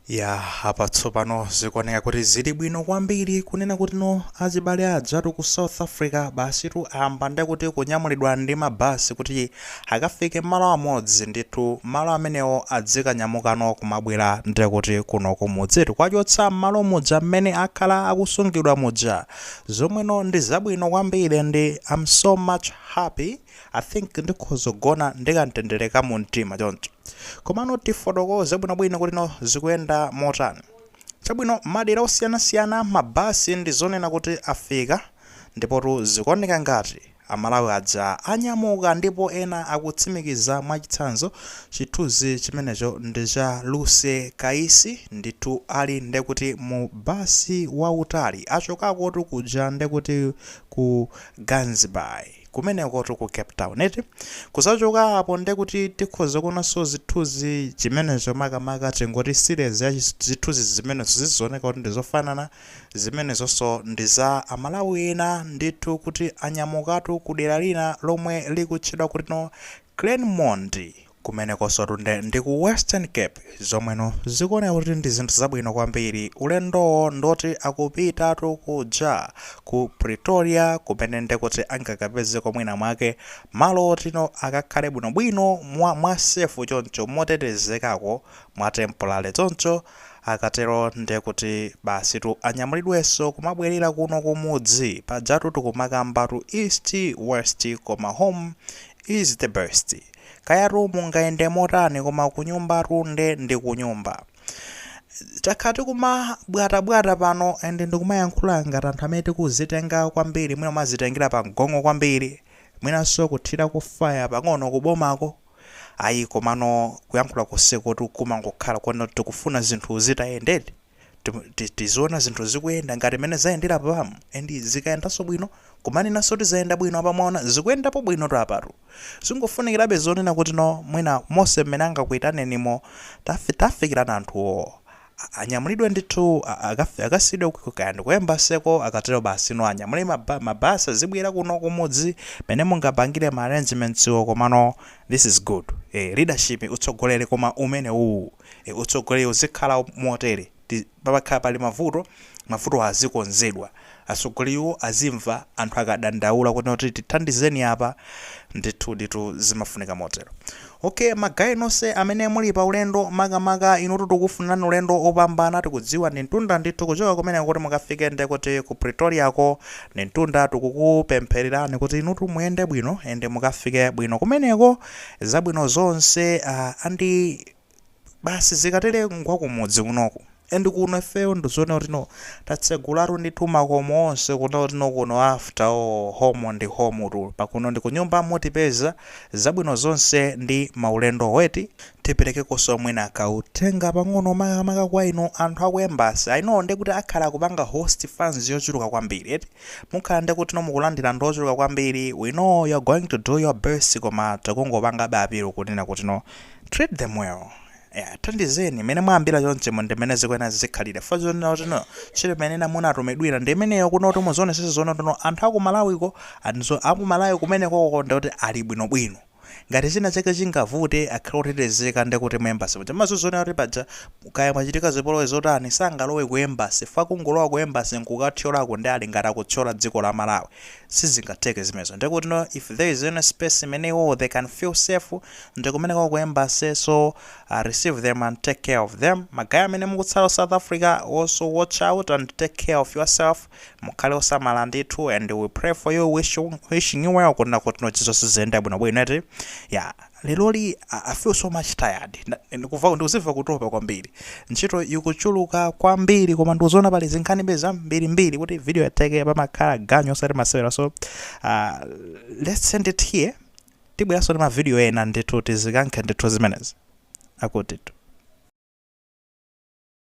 yapatsopano zikuoneka kuti zili bwino kwambiri kunena kuti no azibale anzathu ku south africa basitu ayamba ndekuti kunyamulidwa ndi mabasi kuti akafike malo amodzi ndithu malo amenewo adzikanyamukano kumabwera ndekuti kuno kumudzitu kwachotsa mmalo muja mmene akhala akusungidwa muja zomweno ndi zabwino kwambiri and I am so much happy I think ndikhoza kugona ndi kamtendere ka mumtima choncho. Komano tifotokoze bwinobwino kuti no zikuyenda motani. Chabwino, madera osiyanasiyana mabasi ndi zonena kuti afika, ndipotu zikuoneka ngati Amalawi aja anyamuka ndipo ena akutsimikiza mwachitsanzo, chithunzi chimenecho ndi cha Lucy Kaisi, ndithu ali nde kuti mu basi wautali, achokakotu kuja nde kuti ku Gansbaai. kumenekotu ku cape town eti kuzachoka apo nde kuti tikhoza kuonanso zithunzi zimenezo makamaka tingoti series ya chis- zithunzi zimenezo zooneka kuti ndizofanana zimenezonso ndi za amalawi ena ndithu kuti anyamukatu ku dera lina lomwe likutchedwa kuti no Claremont Kumenekonsotu nde ndi ku Western Cape zomweno zikuoneka kuti ndi zinthu zabwino kwambiri. Ulendowo ndi woti akupitatu kuja ku Pretoria kumene nde kuti angakapezeko mwinamwake malo otino akakhale bwinobwino mwa mwa sefu choncho, motetezekako, mwa tempolale choncho. Akatero nde kuti basitu anyamulidwenso kumabwerera kuno kumudzi. Pajatu tikumakambatu East, West koma home is the best. Kayatu mungayende motani koma kunyumbatu nde ndi kunyumba. Takhala tikumabwatabwata pano and ndikumayankhula ngati anthu amene tikuzitenga kwambiri, mwina kumazitengera pamgongo kwambiri, mwinanso kuthirako fire pang'ono kubomako. Ayi komano kuyankhula konsekutu kumangokhala kwoti tikufuna zinthu zitayendedi. tiziona zinthu zikuyenda ngati mene zayendera pamu and zikayendanso bwino kumanenanso kuti zayenda bwino apa timaona zikuyendapo bwino tu apatu zingofunikirabe zonena kuti no mwina mose mmene angakuyitanirenimo tafi- tafikirana anthuwo a- anyamulidwe ndithu a- akafi- akasiyidwe ku- kaya ndi ku embaseko akatero basi no anyamule maba- mabasi azibwera kuno kumudzi mene mungapangire ma arrangementsiwo komano this is good eh, leadership utsogoleri koma umene uwu Utsogoleri uzikhala motere, pakakhala pali mavuto, mavutowo azikonzedwa. Atsogoleriwo azimva anthu akadandaula kuti tithandizeni apa. Ndithuditu zimafunika motero. Okay, ma guy nonse amene muli pa ulendo, makamaka inutu tikufunirani ulendo wopambana. Tikudziwa ndi mtunda ndithu kuchoka kumeneko kuti mukafike nde kuti ku Pretoriako ndi mtunda. Tikukupemphererani kuti inutu muyende bwino and mukafike bwino kumeneko. zabwino zonse uh, andi basi zikatere ngwakumudzi kunoku and kuno ifeyo ndizoona kuti no tatsegulatu ndithu makomo onse kuno kuti no kuno after all home ndi home tu pakuno ndi kunyumba mutipeza zabwino zonse ndi maulendo eti tiperekekonso mwina kautenga pang'ono makamaka kwa inu anthu aku embassy i know ndekuti akhala akupanga host fans yochuluka kwambiri eti Mukhala ndekuti no mukulandira ndi ochuluka kwambiri, we know you're going to do your best koma tikungopangabe appeal kunena kuti no treat them well, yeah athandizeni, mmene mwayambira chonchimu ndi mmene zikuyenera zizikhalira chifukwa chonena kuti no ntchito imene ena munatumidwira ndi imeneyo kunena kuti muzionetsetsa zonena kuti no anthu a ku Malawi ko and so a ku Malawi kumenekoko ndekuti ali bwinobwino. Ngati china chake chingavute akhale otetezeka ndekuti mu embassy muja amazozionera kuti paja kaya mwachitika zipolowe zotani sangalowe ku embassy chifukwa kungolowa ku embassy nkukathyolako nde ali ngati akuthyola dziko la Malawi sizingatheke zimenezo ndekuti no if there is any space imene iwowo they can feel safe ndikumeneko ku embassy so receive them and take care of them ma guy amene mukutsala ku South Africa also watch out and take care of yourself Mukhale osamala ndithu and we pray for you wish you wishing you well kunena kuti no zonse ziziyenda bwino bwino eti ya leloli I I feel so much tired Nda- ndikuva ndikuziva kutopa kwambiri ntchito ikuchuluka kwambiri koma ndikuziona pali zinkhanibe zambirimbiri kuti video itheke pamakhala ganyo osati masewera so uh, let's end it here tibweranso ndi mavidiyo ena ndithu tizikankhe ndithu zimenezi akutitu